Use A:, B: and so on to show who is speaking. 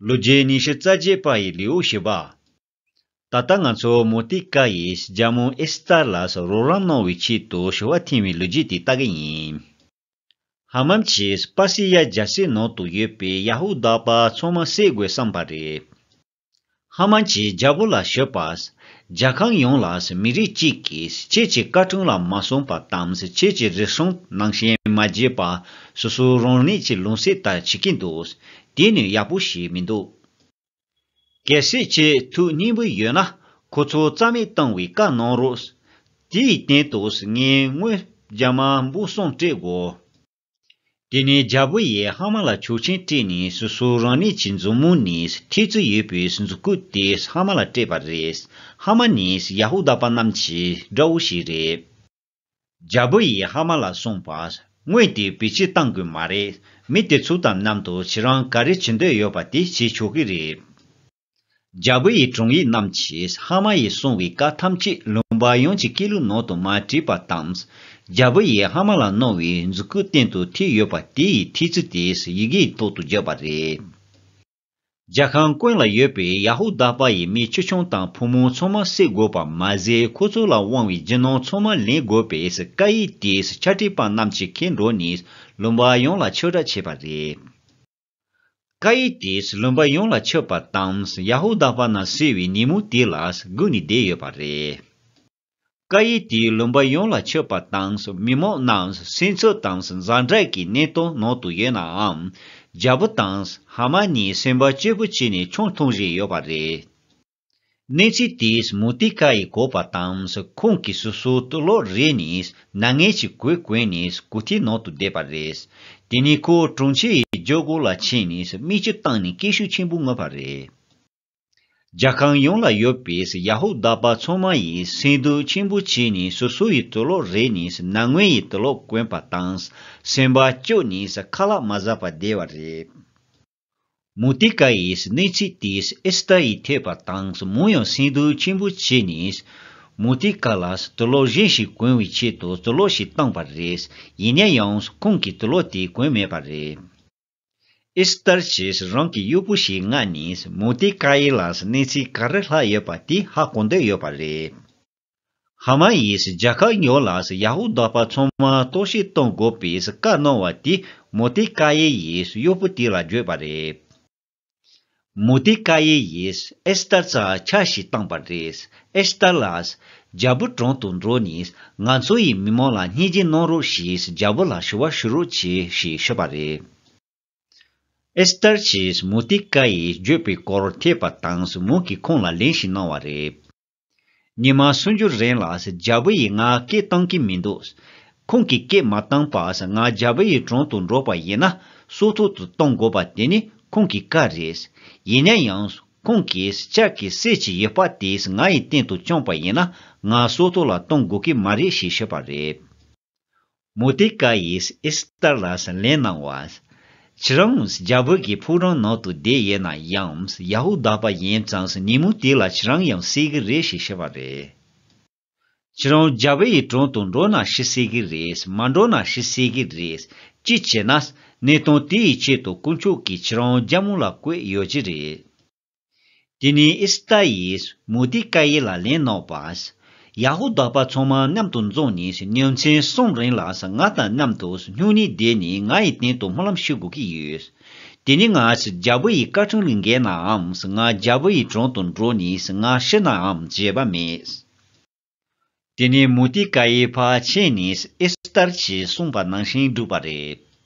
A: ལོ་བརྒྱད་ཉི་ཤུ་རྩ་བརྒྱད་པ་ཡི་ལེའུ་བཞི་པ། ད་ལྟ་ང་ཚོ་མོ་ཏི་ཀ་ཡིས་རྒྱ་མོ་ཨེ་སི་ཏར་ལ་སོགས་རོགས་རམ་གནང་བའི་ཆེད་དུ་ཞུ་བ་འཐེན་བའི་ལོ་རྒྱུས་དེ་ལྟ་གི་ཡིན། ཧ་མམ་ཆེས་པཱ་སི་ཡཱ་རྒྱལ་སའི་ནང་དུ་ཡོད་པའི་ཡ་ཧུ་དཱ་པ་ཚང་མ་བསད་དགོས་བསམ་པ་རེད། ཧ་མ་ཅིའི་རྒྱ་སྒོ་ལ་ཞོད་པ། རྒྱ་ཁང་ཡོངས་ལ་མི་རིགས་གཅིག་གིས་ཁྱེད་ཀྱི་བཀའ་དྲུང་ལ་མ་སོང་པ་དང་ཁྱེད་ཀྱི་རིག་གཞུང་ནང་ཞེན་མ་རྒྱས་པ། སོ་སོའི་རང་ནུས་ཀྱི་ལུང་བསྲེས་ལྟར་བྱེད་ཀྱིན་འདུག་དེ་ནི་ཡག་པོ་ཞིག་མི་འདུག། གལ་སྲིད་ཁྱེད་ཐུགས་སྙིང་པོ་ཡོད་ན་ཁོ་ཚོ་རྩ་མེད་གཏང་བའི་བཀའ་གནང་རོགས། དེའི་སྟེང་དུ་ངའི་དངོས་རྒྱ་མ་འབུ་སྲུང་སྤྲད་དགོས། དེ་ནས་རྒྱལ་པོ་ཡི་ཧ་མ་ལ་ཆོག་ཆེན་སྤྲད་ནས་སོ་སོ་རང་ནས་ཀྱི་མཛུབ་མོ་ནས་ཐེག་ཚུལ་ཡོད་པའི་མཛུ་གུ་དེ་ཧ་མ་ལ་སྤྲད་པ་རེད། ཧ་མ་ནི་ཡ་ཧུ་དཱ་པ་རྣམས་ཀྱི་དགྲ་བོ་ཞིག་རེད། རྒྱལ་པོ་ཡི་ཧ་མ་ལ་གསུངས་པ། དངོས་དེ་བེད་སྤྱི་བཏང་དགོས་མ་རེད། མི་དེ་ཚུགས་དམ་རྣམ་དུ་ཁྱེད་རང་ག་རེ་བྱེད་འདོད་ཡོད་པ་དེ་བྱེད་ཆོག་གི་རེད། རྒྱལ་པོ་ཡི་དྲུང་ཡིག་རྣམས་ཀྱིས་ཧ་མ་ཡིས་གསུངས་བའི་བཀའ་ཐམས་ཅད་ལུང་པ་ཡོངས་ཀྱི་སྐད་ལུགས་ནང་དུ་མ་བྲིས་པ་དང། རྒྱལ་པོ་ཡིས་ཧ་མ་ལ་གནང་བའི་མཛུ་གུའི་སྟེང་དུ་ཐིག་ཡོད་པ་དེ་ཡི་ཐིག་ཚུལ་དེས་ཡི་གེའི་ཐོག་ཏུ་བརྗོད་པ་རེད། རྒྱལ་ཁང་ཀུན་ལ་ཡོད་པའི་ཡ་ཧུ་དཱ་པ་ཡི་མི་ཆུང་ཆུང་དང་བུ་མོ་ཚང་མ་བསད་དགོས་པ་མ་ཟད་ཁོ་ཚོ་ལ་དབང་བའི་རྒྱུ་ནོར་ཚང་མ་ལེན་དགོས་པའི་བཀའ་ཡིག་དེས་ཕྱག་བྲིས་པ་རྣམས་ཀྱི་མཁན་འགྲོ་ནས་ལུང་པ་ཡོངས་ལ་ཆོས་གྲྭ་བྱས་པ་རེད། ཀ་ཡི་དེས་བློན་པ་ཡོངས་ལ་ཆོས་པ་དང་ཡ་ཧུ་དཱ་པ་རྣམས་བསད་པའི་ཉིན་མོ་དེ་ལ་སྒུག་ནས་བསྡད་ཡོད་པ་རེད། ཀ་ཡི་དེས་བློན་པ་ཡོངས་ལ་ཆོས་པ་དང་མི་མང་རྣམས་སྲིད་འཚོལ་དང་འཛའ་འབྲེལ་གྱི་གནད་དོན་ནང་དུ་ཡོད་ནའང། རྒྱལ་པོ་དང་ཧཱ་མཱན་གཉིས་སེམས་པ་སྐྱིད་པོ་བྱས་ནས་ཆང་འཐུང་བཞིན་ཡོད་པ་རེད། གནས་ཚུལ་དེས་མུ་ཏིག་ཁ་ཡི་གོ་བ་དང་ཁོང་གི་སོ་སོའི་སྟོད་ལོགས་རེ་ནས་ནངས་ངལ་གྱི་གོས་གོན་ནས་གོ་ཐིའི་ནང་དུ་བསྡད་པ་རེད། དེ་ནས་ཁོ་དྲུང་ཆེ་ཡི་ཇོ་སྒོ་ལ་ཕྱིན་ནས་མིག་ཆུ་བཏང་ནས་སྐད་ཤུགས་ཆེན་པོས་ངུས་པ་རེད། རྒྱ་ཁང་ཡོངས་ལ་ཡོད་པའི་ཡ་ཧུ་དཱ་པ་ཚང་མ་ཡིས་སེམས་སྡུག་ཆེན་པོ་བྱས་ནས་སོ་སོ་ཡི་སྟོད་ལོགས་རེ་ནས་ནངས་ངལ་ཡི་སྟོད་ལོགས་གོན་པ་དང་སེམས་པ་སྐྱོ་ནས་ཁ་ལག་མ་བཟའ་བར་བསྡད་པ་རེད། མུ་ཏི་ཀ་ཡིས་གནས་ཚུལ་དེས་ཨེ་སི་ཏར་ཡི་ཐེག་པ་དང་མོ་ཡང་སེམས་སྡུག་ཆེན་པོ་བྱས་ནས། མུ་ཏི་ཀ་ལ་དུད་ཀློག་གཞན་ཞིག་གོན་བའི་ཆེད་དུ་དུད་ཀློག་ཞིག་བཏང་བ་རེད། ཡིན་ན་ཡང་ཁོང་གིས་དུད་ཀློག་དེ་གོན་མེད་པ་རེད། ཨེ་སི་ཏར་གྱིས་རང་གི་གཡོག་པོ་ཞིག་མངགས་ནས་མུ་ཏི་ཀ་ཡིས་ལ་གནས་ཚུལ་ག་རེ་ལྷག་ཡོད་པ་དེ་ཧ་གོ་འདོད་ཡོད་པ་རེད། ཧ་མ་ཡིས་རྒྱ་གར་ཉོ་ལགས་ཡ་ཧུ་དཱ་པ་ཚང་མ་གཏོར་བཤིག་གཏོང་དགོས་པའི་བཀའ་གནང་བ་དེ་མུ་ཏི་ཀ་ཡེ་ཡིས་གཡོག་པོ་དེ་ལ་བརྗོད་པ་རེད། མུ་ཏི་ཀ་ཡེ་ཡིས་ཨེ་སི་ཏར་རྩ་ཆ་ཞིག་བཏང་བ་རེད། ཨེ་སི་ཏར་ལགས། རྒྱལ་པོ་དྲུང་དུ་འགྲོ་ནས་ང་ཚོ་ཡི་མི་མང་ལ་བརྙས་བཅོས་གནང་རོགས་ཞེས་རྒྱལ་པོ་ལ་ཞུ་བ་ཞུ་རོགས་གྱིས་ཞེས་ཤོད་པ་རེད། ཨེ་སི་ཏར་གྱིས་མུ་ཏི་ཀ་ཡེས་བརྗོད་པའི་སྐོར་ཐེག་པ་དང་སུ་མུག་གིས་ཁོང་ལ་ལན་ཞིག་གནང་བ་རེད། ཉི་མ་སུམ་ཅུ་རིང་ལ་རྒྱལ་པོ་ཡིས་ང་སྐད་བཏང་གི་མི་འདུག། ཁོང་གིས་སྐད་མ་བཏང་པར་ང་རྒྱལ་པོ་ཡི་དྲུང་དུ་འགྲོ་པ་ཡིན་ན་སྲོག་ཐུག་ཏུ་གཏོང་དགོས་པ་དེ་ནི་ཁོང་གི་བཀའ་རེད། ཡིན་ན་ཡང་ཁོང་གིས་ལྕགས་ཀྱི་གསེར་གྱི་ཡུ་བ་དེ་ང་ཡི་སྟེང་དུ་བཅངས་པ་ཡིན་ན་ང་སྲོག་ཐུག་ལ་གཏོང་དགོས་ཀྱི་མ་རེད་ཞེས་བཤད་པ་རེད། མུ་ཏིག་ཀ་ཡིས་ཨིས་ཏར་ལ་སྲིན་ལན་གནང་བ། ཁྱེད་རང་རྒྱ་བོད་ཀྱི་ཕུག་རོན་ནང་དུ་བསྡད་ཡོད་ན་ཡང་ཡ་ཧུ་དཱ་པ་ཡིན་ཙང་ཉིན་མོ་དེ་ལ་ཁྱེད་རང་ཡང་སྲིད་གི་རེད་ཞེས་བཤད་པ་རེད། ཁྱེད་རང་རྒྱ་བོད་ཡི་དྲུང་དུ་འགྲོ་ན་ཤི་སྲིད་གི་རེད་མ་འགྲོ་ན་ཤི་སྲིད་གི་རེད། ཅིས་བྱས་ན། གནད་དོན་དེའི་ཆེད་དུ་དཀོན་མཆོག་གིས་ཁྱེད་རང་རྒྱ་མོ་ལ་བསྐོས་ཡོད་ཀྱི་རེད། དེ་ནས་ཨི་སི་ཏཱ་ཡིས་མོ་ཏི་ཀཱ་ཡེ་ལ་ལན་བསྣོགས་པ། ཡ་ཧུ་དཱ་པ་ཚང་མ་མཉམ་དུ་འཛོམས་ནས་གཉའ་མཚན་གསུམ་རིང་ལ་ང་དང་མཉམ་དུ་སྨྱུང་གནས་བསྡད་ནས་ང་ཡི་སྟེང་དུ་སྨོན་ལམ་ཞུ་དགོས་ཀྱི་ཡོད། དེ་ནས་ང་རྒྱལ་པོ་ཡི་བཀའ་དྲིན་ལས་འགལ་ནའང་ང་རྒྱལ་པོ་ཡི་དྲུང་དུ་འགྲོ་ནས་ང་ཤི་ནའང་བརྗེད་པ་མེད། དེ་ནས་མོ་ཏི་ཀཱ་ཡེ་ཕར་ཕྱིན་ནས་ཨི་སི་ཏཱར་གྱིས་གསུངས་པ་ནང་བཞིན་བསྒྲུབས་པ་རེད།